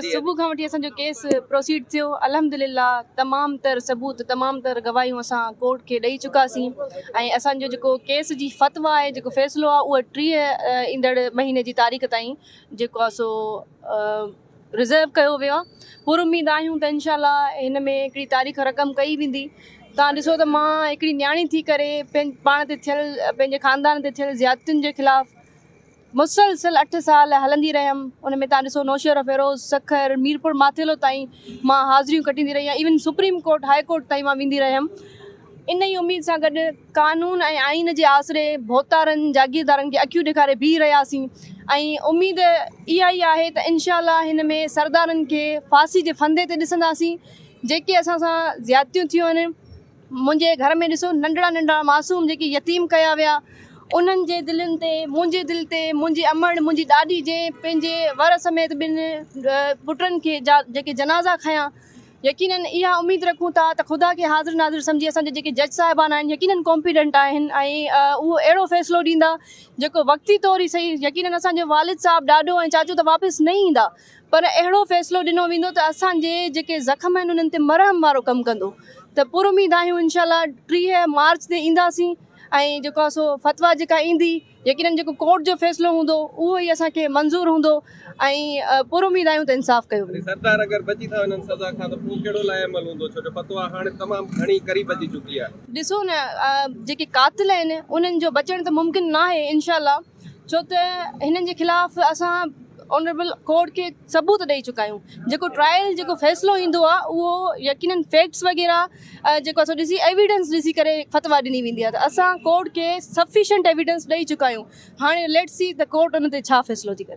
صبح کان وٺي اسان جو ڪيس پروسيڊ ٿيو الحمدلله تمام تر ثبوت تمام تر گواهيون اسان ڪورٽ کي ڏئي چڪا سين ۽ اسان جو جيڪو ڪيس جي فتويٰ آهي جيڪو فيصلو آهي اهو ٽيهه ايندڙ مهيني جي تاريخ تائين جيڪو آهي سو رزرو ڪيو ويو آهي پر اميد آهيون ته انشاء الله هن ۾ هڪڙي تاريخ رقم ڪئي ويندي تان ڏسو ته مان هڪڙي نياڻي ٿي ڪري پاڻ تي ٿيل پنهنجي خاندان تي ٿيل زيادتين جي خلاف مسلسل اٺ سال هلندي رهيم ان ۾ تان ڏسو نوشهروفيروز، سکر، ميرپور ماٿيلو تائين مان حاضريون ڪٽيندي رهي آهيان even supreme court high court تائين مان ويندي رهيم ان ئي اميد سان گڏ قانون ۽ آئين جي آسري ڀوتارن جاگيردارن کي اکيون ڏيکاري بيهي رهياسين ۽ اميد اها ئي آهي ته انشاء الله هن ۾ سردارن کي ڦاسي جي ڦندي تي ڏسنداسين جيڪي اسان سان زيادتيون ٿيون آهن منهنجي گهر ۾ ڏسو ننڍڙا ننڍڙا معصوم جيڪي يتيم ڪيا ويا انهن جي دلين تي منهنجي دل تي منهنجي امڙ منهنجي ڏاڏي جنهن پنهنجي ور سميت ٻن پٽن کي جيڪي جنازا کنيا يقينن اها اميد رکون ٿا ته خدا کي حاضر ناظر سمجهي اسان جا جيڪي جج صاحبان آهن يقينن ڪومپيٽنٽ آهن ۽ اهو اهڙو فيصلو ڏيندا جيڪو وقتي طور ئي سهي يقينن اسان جو والد صاحب ڏاڏو ۽ چاچو ته واپس نه ايندا پر اهڙو فيصلو ڏنو ويندو ته اسان جي جيڪي زخم آهن انهن تي مرهم وارو ڪم ڪندو ته پر اميد آهيون انشاء الله ٽيهه مارچ تي اينداسين ۽ جيڪو آهي سو فتويٰ جيڪا ايندي يقينن جيڪو ڪورٽ جو فيصلو هوندو اهو ئي اسان کي منظور هوندو ۽ پر اميد آهيون ته انصاف ڪيو ويندو. سردار اگر بچي ٿا وڃن سزا کان ته پوء ڪهڙو لاء عمل هوندو ڇو جو فتويٰ هاڻي تمام گهڻي قريب اچي چڪي آهي. ڏسو نه جيڪي قاتل آهن انهن جو بچڻ ته ممڪن ناهي انشاء الله. ڇو ته هنن جي خلاف اسان آنريبل ڪورٽ کي ثبوت ڏئي چڪا آهيون جيڪو ٽرائل جيڪو فيصلو ايندو آهي اهو يقينا فيڪٽس وغيره جيڪو اسان ڏسي ايويڊنس ڏسي ڪري فتويٰ ڏني ويندي آهي ته اسان ڪورٽ کي سفيشنٽ ايويڊنس ڏئي چڪا آهيون هاڻي ليٽس سي ته ڪورٽ ان تي ڇا فيصلو ٿي ڪري